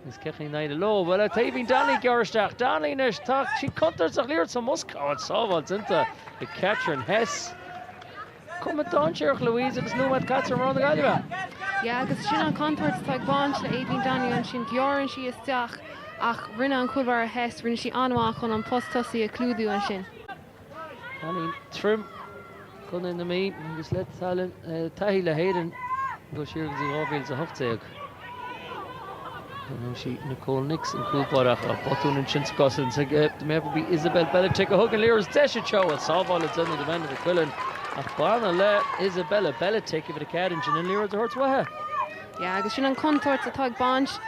Is cic iníseal ó ló. Bhuel, tá Aoibhín Donnelly ag gearradh isteach. Donnelly anois, tá sí contúirteach liathróid sa mbosca. Sábháil déanta ag Catherine Hess. Cuma dainséarach Louise agus nóiméad caite ag mná na Gaillimhe. Yeah, agus sin an chontúirt atá ag baint le Aoibhín Donnelly ansin. Gearrann sí isteach ach rinne an cúl báire Hess, rinne sí an-mhaith chun an post tosaigh a chlúdú ansin. Cailín Trim, Contae na Mí, agus tá taithí le hÉirinn ag dul siar go dtí 2018. Sí Nicole Nix, an cúl báire ach ó botún ansin sa gcosaint ag maybe b'í Isabella Beletic a thug an liathróid deis anseo ach sábháil le déanamh ag Amanda McQuillan ach ab annamh le Isabella Beletic uimhir 4 ansin an liathróid a thabhairt uaithi. Agus sin an chontúirt atá ag baint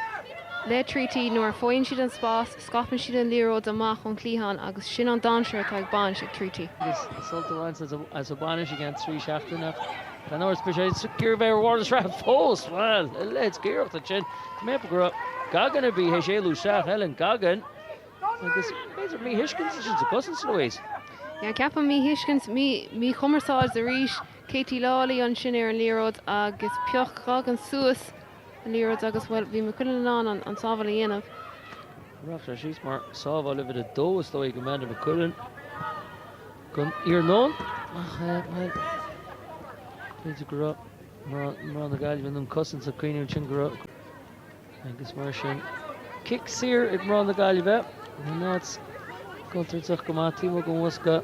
le Treaty nuair a faigheann siad an spás. Scaipeann siad an liathróid amach ón chliathán agus sin an dainséar atá ag baint le Treaty. Agus sult á bhaint as an mbainis i gceann trí seachtaine ach gan amhras beidh sé ag iarraidh bheith ar bharr na sraithe fós. Bhuel, a leithéid d'iarracht ansin. Tá mé ag ceapadh go raibh Goggin ar bí théis éalú isteach. Helen Goggin. Agus b'fhéidir míthuiscint ansin sa gcosaint, Louise? Yeah, ceapaim míthuiscint, míchumarsáid arís. Katie Lawley ansin ar an liathróid agus phioc Goggin suas an. liathróid agus, bhuel, bhí McQuillan in ann an sábháil a dhéanamh. Rachaidh sé síos mar sábháil uimhir a dó is dóigh, Amanda McQuillan, don iarnóin ach, bhuel, b'fhéidir go raibh mná na Gaillimhe in ann cosaint a choinniú ansin, go raibh agus mar sin cic saor ag mná na Gaillimhe. An áit scaoilte amach go maith, Timo Gomuaska.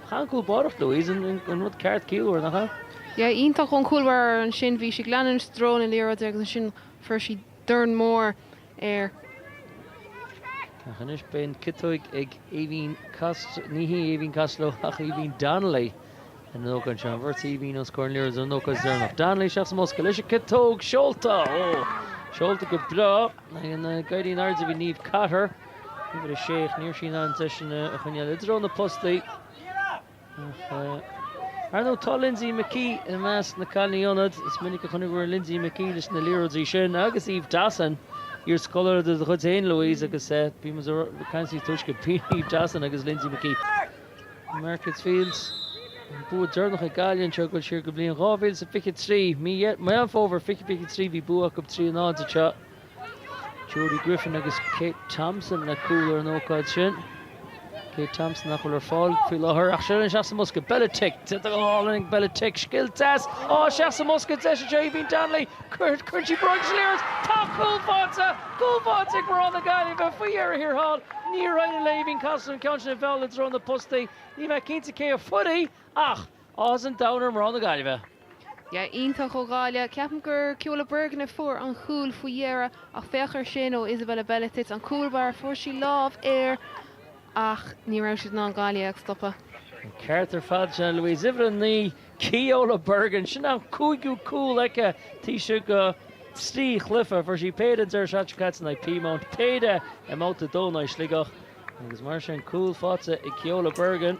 Rinne an cúl báire Louise an rud ceart ciallmhar, nach ea? Yeah, iontach ón chúl báire ansin. Bhí sí ag leanúint i dtreo na liathróide agus ansin fuair sí dorn mór air. Ach anois beidh an chiotóg ag Aoibhín Costello, ní hí Aoibhín Costello ach Aoibhín Donnelly an ócáid seo. An bheirt Aoibhín os comhair an liathróid an ócáid is deireanach. Donnelly isteach sa mbosca leis an gciotóg seolta. Ó, seolta go breá. Ag éirí in airde bhí Niamh Cotter. Uimhir 6 ach ní raibh sí in ann é sin a choinneáil i dtreo na bpostaí ach Ar ndóigh tá Lindsay McKee i measc na cailíní ionad. Is minic a chonaiceamar Lindsay McKee leis na liathróidí sin agus Eve Dawson, iarscoláire de do chuid féin Louise agus bhí muid ag caint níos túisce faoi Eve Dawson agus Lindsay McKee. Markets Field, an bua deireanach ag Gaillimh anseo ag dul siar go bliain 2023. Mí Mheán Fómhair 2023 bhí bua acu 3-0 anseo Jodie Griffin agus Kate Thompson le cúil ar an ócáid sin. Kate Thompson nach bhfuil ar fáil faoi láthair ach seo linn isteach sa mbosca. Beletic, tá go hálainn ag Beletic. Scil deas ó isteach sa mbosca deis anseo Aoibhín Donnelly. Cuireann sí bróg leis an liathróid. Tá cúl faighte, cúl faighte ag mná na Gaillimhe faoi dheireadh thiar thall. Níor éirigh le hAoibhín Costello an ceann sin a mheall i dtreo na bpostaí. Níl mé cinnte cé a fuair í ach. Áthas an Domhain ar mná na Gaillimhe. Yeah, iontach ó Ghaillimh. Ceapaim gur Ceola Bergin a fuair an cúl faoi dheireadh ach féach ar sin ó Isabella Beletic, an cúl báire, fuair sí lámh air ach ní raibh siad in ann Gaillimh a stopadh. An ceart ar fad, sin é Louise, uimhir a naoi, Ceola Bergin. Sin an cúigiú cúl aici, taobh istigh de trí chluiche, fuair sí péire an deireadh seachtaine caite in aghaidh Peamount, péire i mbabhta a dó in aghaidh Sligeach agus mar sin cúl faighte ag Ceola Bergin.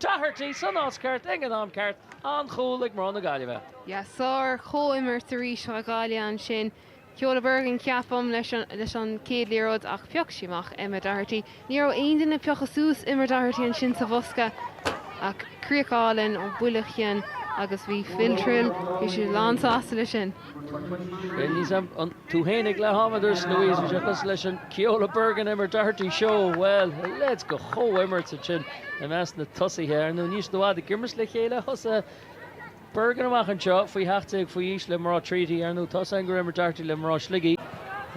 Doherty san áit ceart ag an am ceart, an-chúl ag mná na Gaillimhe. Yeah, sár chomhimirt arís ó Ghaillimh ansin. Ceola Bergin ceapaim leis an chéad liathróid ach phioc sí amach Emma Doherty. Ní raibh aon duine ag piocadh suas Emma Doherty ansin sa bhosca ach críoch álainn ó buille ceann agus bhí Phil Trill, bhí sé lán sásta leis sin. Bheinn níos aimh an tú féin ag leath ama does Louise bhí sé cosúil leis an Ceola Bergin Emma Doherty show bhuel a leithéid de chomhimirt ansin i measc na tosaithe ar ndóigh níl siad i bhfad ag imirt le chéile thosaigh Bergin amach anseo faoi sheacht déag faoi aois le mná Treaty ar ndóigh thosaigh angar Emma Doherty le mná Shligigh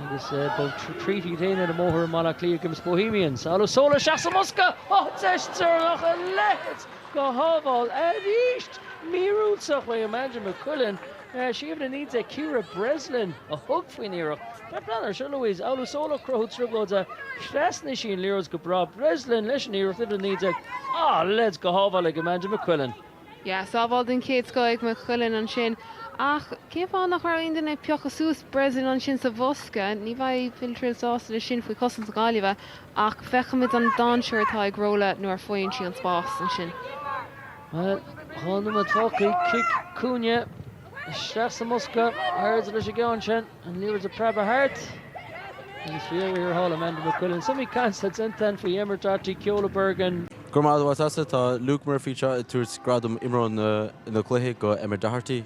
agus beidh Treaty féin ar an mbóthar i mBaile Átha Cliath ag imirt Bohemians. Olusola isteach sa mbosca! Ó deis tirim ach a leithéid de shábháil arís! Míorúilteach ó Amanda McQuillan Sí uimhir a naoi déag Ciara Breslin a thug faoin iarracht. Tá plean ar siúl le Louise, Olusola ag cruthú trioblóide. Thrasnaigh sí an liathróid go breá. Breslin leis an iarracht, uimhir a naoi déag. Ah, a leithéid de shábháil ag Amanda McQuillan. Yeah, sábháil den chéad scoth ag McQuillan ansin. Ach cén fáth nach raibh aon duine ag piocadh suas Breslin ansin sa bhosca? Ní bheidh Phil Trill sásta leis sin faoi chosaint na Gaillimhe ach feicfimid an dainséar atá ag Rola nuair a faigheann sí an spás ansin. Chun na todhcaí, cic cúinne isteach sa mbosca, airde leis an gceann sin, an liathróid ag preabadh thart. Agus bhí air ar thála Amanda McQuillan. Is muid ag caint intan faoi Emma Doherty, Ceola Bergin. Go raibh maith agat, sea, tá Luke Murphy anseo ag tabhairt gradam imreoir na cluiche go Emma Doherty.